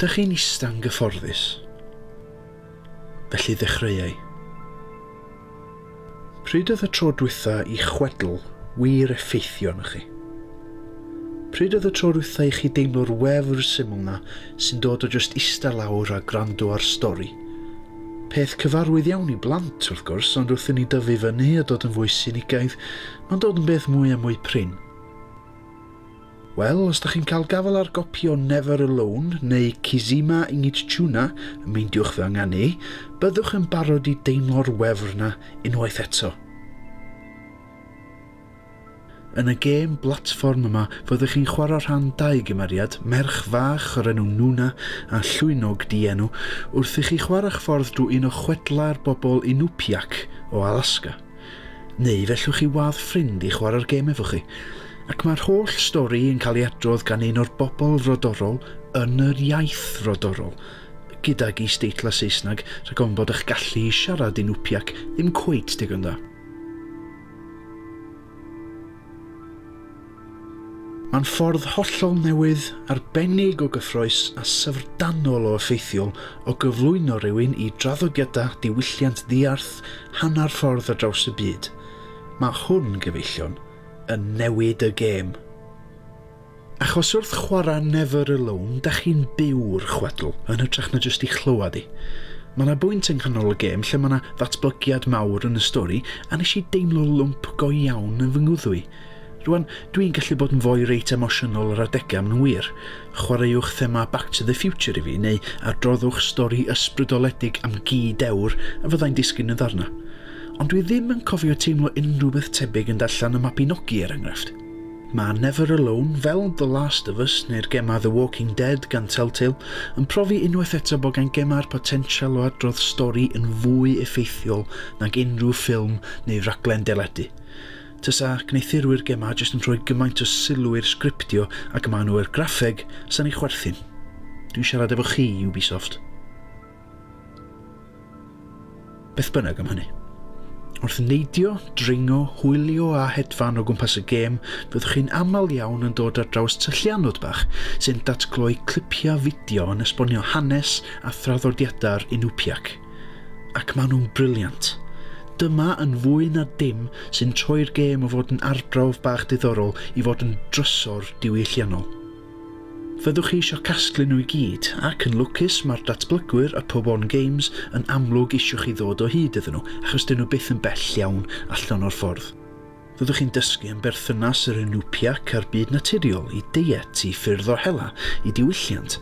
Dych chi'n ista'n gyfforddus? Felly ddechreuai. Pryd oedd y tro dwytha i chwedl wir effeithio arnoch chi? Pryd oedd y tro dwytha i chi deimlo'r wefr syml 'na sy'n dod o jyst ista lawr a gwrando ar stori? Peth cyfarwydd iawn i blant, wrth gwrs, ond wrth i ni dyfu fyny a dod yn fwy sinigaidd, mae'n dod yn beth mwy a mwy prin. Wel, os da chi'n cael gafael ar gopi o Never Alone neu Kizima Ingitchuna, meindiwch fy ynganu i, byddwch yn barod i deimlo'r wefr na unwaith eto. Yn y gêm blatfform yma, fyddwch chi'n chwarae rhan dau gymeriad, merch fach o'r enw Nuna a llwynog dienw, wrth i chi chwarae'ch ffordd drwy un o chwedlau'r bobl Inupiaq o Alaska. Neu fe llwch chi wadd ffrind i chwarae'r gêm efo chi, ac mae'r holl stori yn cael ei adrodd gan un o'r bobl frodorol yn yr iaith frodorol, gydag is-deitlau Saesneg rhag ofn bod eich gallu i siarad Inupiaq ddim cweit digon da. Mae'n ffordd hollol newydd, arbennig o gyffrous a syfrdanol o effeithiol o gyflwyno rhywun i draddodiadau diwylliant ddiarth hanner ffordd ar draws y byd. Mae hwn, gyfeillion, yn newid y gêm. Achos wrth chwarae Never Alone, da chi'n byw'r chwedl, yn hytrach na jyst ei chlywed hi. Mae yna bwynt yng nghanol y gêm lle mae yna ddatblygiad mawr yn y stori a nes i deimlo lwmp go iawn yn fy ngwddw i. Rwan, dw i'n gallu bod yn foi reit emosiynol ar adegau, maen nhw'n wir. Chwaraewch thema Back to the Future i fi, neu adroddwch stori ysbrydoledig am gi dewr a fyddai'n disgyn yn ddarnau. Ond dwi ddim yn cofio teimlo unrhyw beth tebyg yn darllen y Mabinogi, er enghraifft. Mae Never Alone, fel The Last of Us neu'r gemau The Walking Dead gan Telltale, yn profi unwaith eto bod gan gemau'r potensial o adrodd stori yn fwy effeithiol nag unrhyw ffilm neu raglen deledu. Tasa gwneuthurwyr gemau jyst yn rhoi gymaint o sylw i'r sgriptio ac maen nhw i'r graffeg, sa'n i chwerthin. Dwi'n siarad efo chi, Ubisoft. Beth bynnag am hynny. Wrth neidio, dringo, hwylio a hedfan o gwmpas y gêm, fyddwch chi'n aml iawn yn dod ar draws tyllianod bach sy'n datgloi clipiau fideo yn esbonio hanes a thraddodiadau'r Inupiaq. Ac maen nhw'n brilliant. Dyma yn fwy na dim sy'n troi'r gêm o fod yn arbrawf bach diddorol i fod yn drysor diwylliannol. Fyddwch chi isio casglu nhw i gyd, ac yn lwcus mae'r datblygwyr y Pobon Games yn amlwg isio chi ddod o hyd iddyn nhw achos dyn nhw byth yn bell iawn allan o'r ffordd. Fyddwch chi'n dysgu am berthynas yr Inupiaq a'r byd naturiol, i deiet, i ffyrdd o hela, i diwylliant.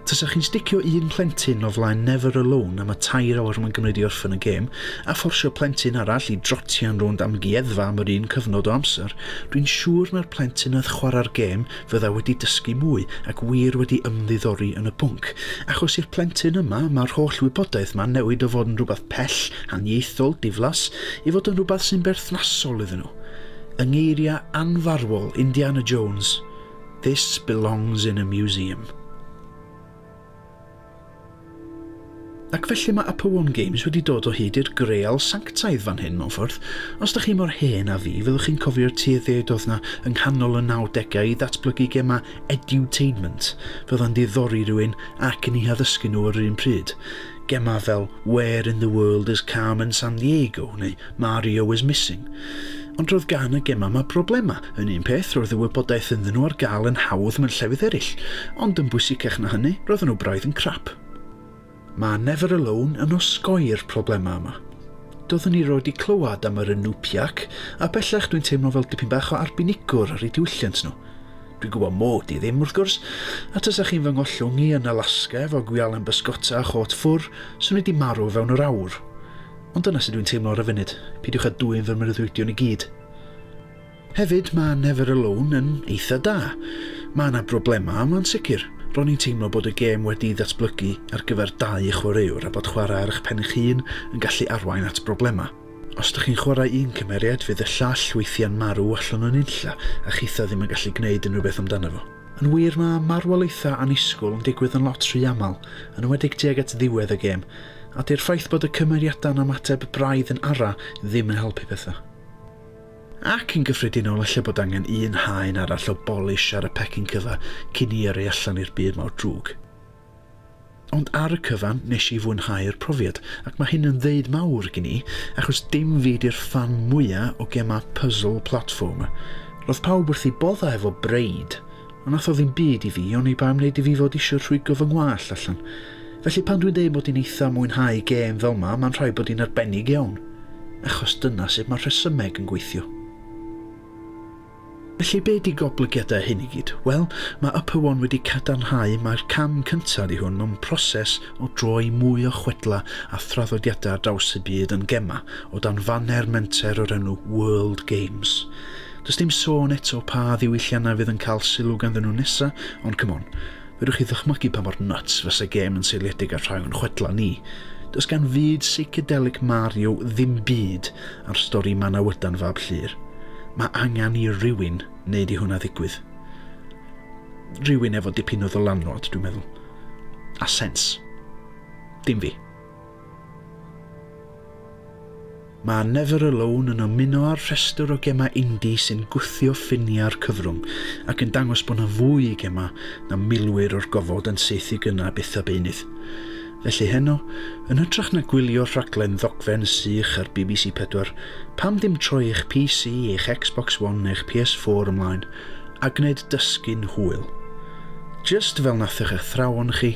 Tasa chi'n sticio un plentyn o flaen Never Alone am y tair awr mae'n gymryd i orffen y gêm, a fforsio plentyn arall i drotian rownd amgueddfa am yr un cyfnod o amser, dwi'n siŵr na'r plentyn oedd chwarae'r gêm Fydda wedi dysgu mwy ac wir wedi ymddiddori yn y pwnc, achos i'r plentyn yma mae'r holl wybodaeth ma'n newid o fod yn rhywbeth pell, haniaethol, diflas, i fod yn rhywbeth sy'n berthnasol iddyn nhw. Yng ngeiriau anfarwol Indiana Jones, This belongs in a museum. Ac felly mae Apowarn Games wedi dod o hyd i'r greal sanctaidd fan hyn mewn ffordd. Os da chi mor hen a fi, fyddwch chi'n cofio'r tueddiaid oedd na yng nghanol y 90au i ddatblygu gemau edutainment, fel yn diddori rhywun ac yn eu haddysgu nhw ar yr un pryd. Gemau fel Where in the World is Carmen Sandiego neu Mario was missing. Ond roedd gan y gemau yma broblemau. Yn un peth, roedd y wybodaeth ynddyn nhw ar gael yn hawdd mewn llefydd eraill, ond yn bwysicach na hynny, roedden nhw braidd yn crap. Mae Never Alone yn osgoi'r problemau yma. Doeddwn i rioed 'di clywed am yr Inupiaq, a bellach dwi'n teimlo fel dipyn bach o arbenigwr ar eu diwylliant nhw. Dwi'n gwybod mod i ddim, wrth gwrs, a tasa chi'n fy ngollwng i yn Alaska efo gwialen bysgota a chôt ffwr, swn i 'di marw fewn yr awr. Ond dyna sut dwi'n teimlo ar y funud, peidiwch â dwyn fy mreuddwydion i gyd. Hefyd, mae Never Alone yn eitha da. Mae yna broblemau a mae'n sicr, ro'n i'n teimlo bod y gêm wedi'i ddatblygu ar gyfer dau chwaraewr a bod chwarae ar eich pen eich hun yn gallu arwain at broblemau. Os dych chi'n chwarae un cymeriad, fydd y llall weithiau'n marw allan o nunlla a chitha ddim yn gallu gwneud unrhyw beth amdano fo. Yn wir, mae marwolaethau annisgwyl yn digwydd yn lot rhy aml, yn enwedig tuag at ddiwedd y gêm, a 'di'r ffaith bod y cymeriadau'n ymateb braidd yn ara ddim yn helpu pethau. Ac yn gyffredinol ella bod angen un haen arall o bolish ar y pecyn cyfa cyn i yrru allan i'r byd mawr drwg. Ond ar y cyfan, nes i fwynhau'r profiad, ac mae hyn yn ddeud mawr gen i, achos dim fi 'di'r ffan mwya o gemau puzzle platformer. Roedd pawb wrth eu boddau efo Braid, ond nath o ddim byd i fi, oni bai am wneud i fi fod isio rhwygo fy ngwallt allan. Felly pan dwi'n deud mod i'n eitha mwynhau gêm fel 'ma, mae'n rhaid bod hi'n arbennig iawn, achos dyna sut mae'r rhesymeg yn gweithio. Felly be ydi goblygiadau hyn i gyd? Wel, mae Upper One wedi cadarnhau mai'r cam cyntaf ydi hwn mewn proses o droi mwy o chwedlau a thraddodiadau ar draws y byd yn gemau o dan faner menter o'r enw World Games. Does dim sôn eto pa ddiwylliannau fydd yn cael sylw ganddyn nhw nesa, ond c'mon, Fedrwch chi ddychmygu pa mor nuts fyse gêm yn seiliedig ar rhai o'n chwedlau ni? Does gan fyd seicedelic Mario ddim byd ar stori Manawydan fab Llyr. Mae angen i rywun wneud i hwnna ddigwydd. Rhywun efo dipyn o ddylanwad, dwi'n meddwl. A sens. Dim fi. Mae Never Alone yn ymuno â'r rhestr o gemau indie sy'n gwthio ffiniau'r cyfrwng ac yn dangos bod 'na fwy i gemau na milwyr o'r gofod yn saethu gynnau byth a beunydd. Felly heno, yn hytrach na gwylio rhaglen ddogfen sych ar bbc Pedwar, pam ddim troi eich PC, eich Xbox One neu'ch PS4 ymlaen a gwneud dysgu'n hwyl? Jyst fel natho'ch athrawon chi,